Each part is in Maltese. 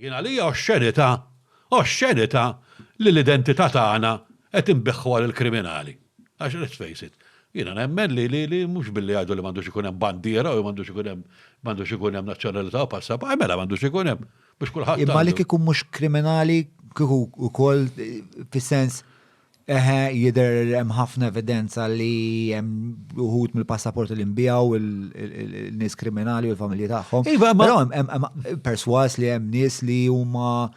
Jien għalija oxxenità, oxxenità li l-identità tagħna qed inbiħħuha lill-kriminali. Għax let's face it, jiena nemmen li li li mhux billi jgħidu li m'għandux ikun hemm bandiera u m'għandux ikun hemm m'għandux ikun hemm nazzjonalità u passaport, mela m'għandux ikun hemm biex kulħadd. Imma li kieku mhux kriminali kieku wkoll fis-sens Eħe, jidher hemm ħafna evidenza li hemm uħud mill-passaporti li nbijaw il-nies kriminali u l-familji tagħhom. Iva, ma hemm perswas li hemm nies li huma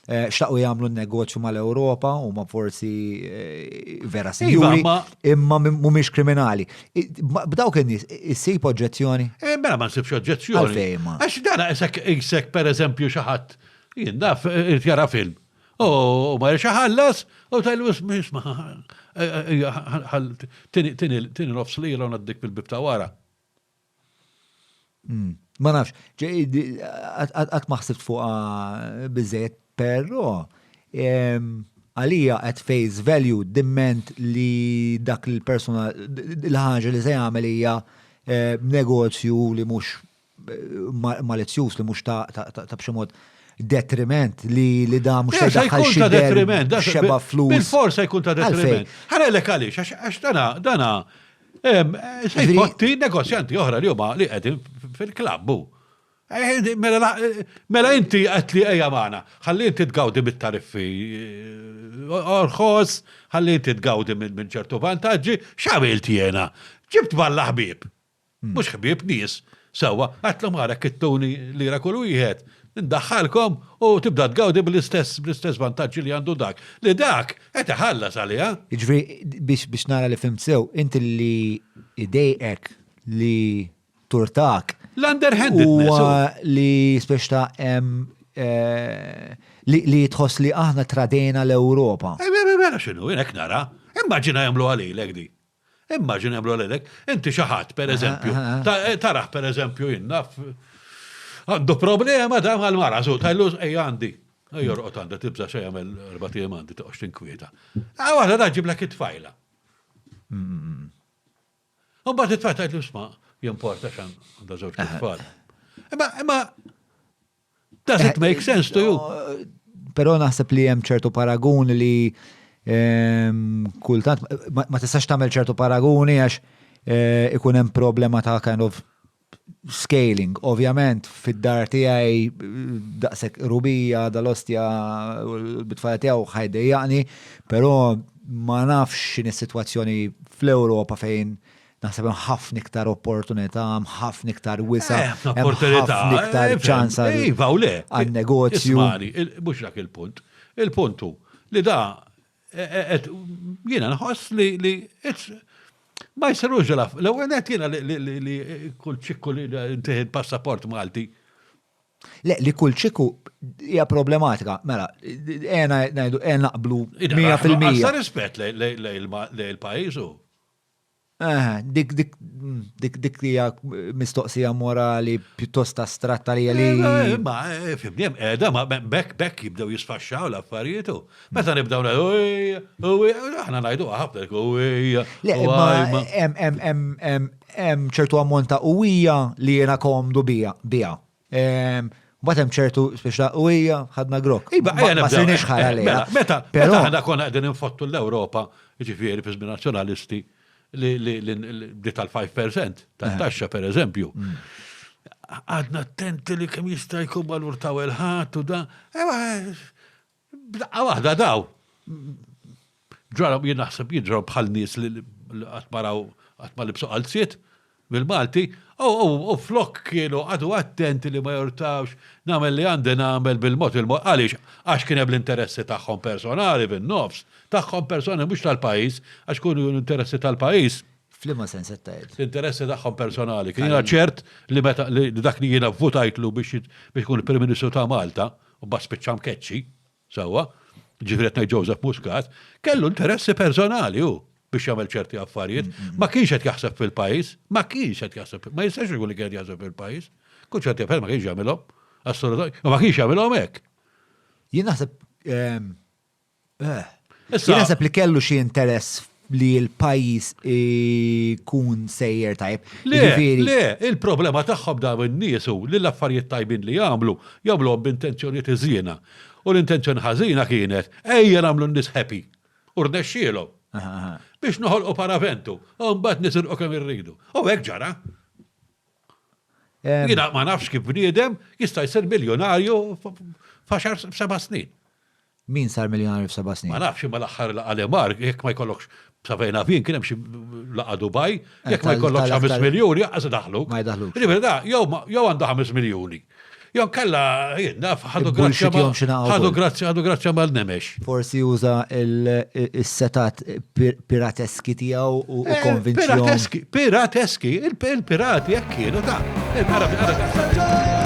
Eh, xtaqu jagħmlu negozju mal-Ewropa u ma forsi eh, vera sinjuri iva, imma mhumiex kriminali. B'dawk in-nies issib oġġezzjoni? Eh, mela ma nsibx oġġezzjoni. Għax dara isek isek pereżempju xi ħadd jien naf jara film. U ma jirxa ħallas, u tajlu isma, tini nofs li jilon għaddik bil-bib ta' wara. Hmm. Ma nafx, għat maħsibt fuqa bizzejt, pero għalija at face value dimment li dak il-persona, l-ħagġa li se jagħmel hija eh, negozju li mhux malizzjuż li mhux ta' b'xi mod detriment li li da mhux se jkun ta' detriment, xeba flus. Il-forsa jkun ta' detriment. Ħanellek għaliex, għax dana, dana, se jpotti negozjanti oħra li huma li qegħdin fil-klabbu. Eh, mela, mela inti qed li ejja magħna, ħalli inti tgawdi mit-tariffi eh, orħos, ħalli inti tgawdi minn ċertu vantaġġi, x'għamilt jiena? Ġibt balla ħbieb. Mhux ħbieb nies. Sewwa, għidtlhom ara kittuni lira kull wieħed, indaħħalkom u tibda tgawdi bl-istess bl-istess vantaġġi li għandu dak, li dak qed iħallas għaliha. Jiġifieri, biex biex nara li fhimt sew, int li jdejqek li turtak. L-underhandedness. Huwa li spiex ta' hemm li tħoss li aħna tradejna l-Ewropa. Mela x'inhu, jien hekk nara. Immaġina jagħmluha lilek din. Immaġina jagħmlu għalek, inti xi ħadd pereżempju, taraħ pereżempju jinna għandu problema da mal-mara, żu tajlu ej għandi. Jorqod għandha tibża xejn jagħmel erba' tiegħem għandi toqgħodx tinkwieta. Ah waħda da ġiblek it-tfajla. U mbagħad it-tfajla tgħidlu sma' jimporta xan għandha żewġ tfal. Imma imma Does it make sense to you? Pero naħseb li hemm ċertu paragun li ehm, kultant ma tistax tagħmel ċertu paraguni għax eh, ikun hemm problema ta' kind of scaling, ovvjament, fid-dar tiegħi daqsek rubija dal-ostja bitfajja tiegħu ħajdejjaqni, però ma nafx x'in is-sitwazzjoni fl-Ewropa fejn Naħseb hemm ħafna iktar opportunità, hemm ħafna iktar wisa, eh, hemm ħafna iktar eh, ċans iva, għal-negozju. Mhux dak il-punt. Il-punt hu li da eh, jiena nħoss li ma jsirux ġela. L-ewwel qed jiena li kull ċikku li ntieħed passaport Malti. Le, li kull ċikku hija problematika. Mela, għena naqblu 100%. Għasta rispett lejl-pajizu. Aha, dik dik dik dik hija mistoqsija morali pjuttost astratta li li. Eh, ma, eh, fimni, hemm qiegħda, ma be- bekk bekk jibdew jisfaxxaw l-affarijiet u meta nibdew ngħidu, "Ej, u ej", aħna ngħidu ħafna jekk, u ej, Le, u imma ej, ma- hemm- hemm- hemm- hemm- hemm ċertu ammont ta' uwija li jiena komdu bija, bija. Mbagħad hemm ċertu speċta u hija ħadna grok. Iba, ma sirniex ħara li. Mela, meta, però aħna konna qegħdin infottu l-Ewropa, ġifieri fiż nazzjonalisti li tal-5% tat-taxxa eh. pereżempju. Mm. Għadna attenti li kemm jista' jkun valur ta' il-ħadd u da. Ewa, eh, B'daqqa waħda daw ġraw jien naħseb jiġraw bħal nies li qatt ma raw qatt ma libsu qalziet bil-Malti, u flok kienu għadu attenti li ma jortawx nagħmel li għandi nagħmel bil-mod il-mod għaliex għax kien hemm l-interessi tagħhom personali fin-nofs, tagħhom personali mhux tal-pajjiż għax kienu l-interessi tal-pajjiż. F'liema sens qed tgħid? L-interessi tagħhom personali. Kien jiena ċert li meta dak li jiena vvutajtlu biex ikun il-Prim Ministru ta' Malta, u mbagħad spiċċa mkeċċi, sewwa, ġifieri qed ngħid Joseph Muscat, kellu interessi personali hu biex jagħmel ċerti affarijiet, ma kienx qed jaħseb fil-pajjiż, ma kienx qed jaħseb, ma jistax ikun li kien jaħseb fil-pajjiż, kull ċerti affarijiet ma kienx jagħmilhom, assolutament, ma kienx jagħmilhom hekk. Jien naħseb ehm, Eh. Jien naħseb li kellu xi interess li l-pajjiż ikun sejjer tajb. Le, Jiġifieri- le, il-problema tagħhom dawn in-nies hu li l-affarijiet tajbin li jagħmlu, jagħmluhom b'intenzjonijiet iżjiena. U l-intenzjoni ħażina kienet, ejja nagħmlu n-nies happy. U rnexxielhom. Aha, aha. Biex noħolqu paraventu, u mbagħad nisilqu kemm irridu. U hekk ġara. Jiena ma nafx kif bniedem jista' jsir miljonarju f'għaxar seba' snin. Min sar miljonarju f'seba' snin? Ma nafx imma l-aħħar laqa' li mar, jekk ma jkollokx safejna fin kien hemm xi laqa' Dubai, eh, jekk ma jkollokx 5 miljuni aqas daħlu. Ma jdaħlu. Ġifieri da, jew għandu 5 miljuni. Jew kalla, jien naf, ħadu grazzja ħadu grazzja ħadu grazzja mal-nemex. Forsi juża il-setat pirateski tiegħu u eh, konvinzjoni. Pirateski, pirateski, il-pirati jekk kienu ta' il-Arabi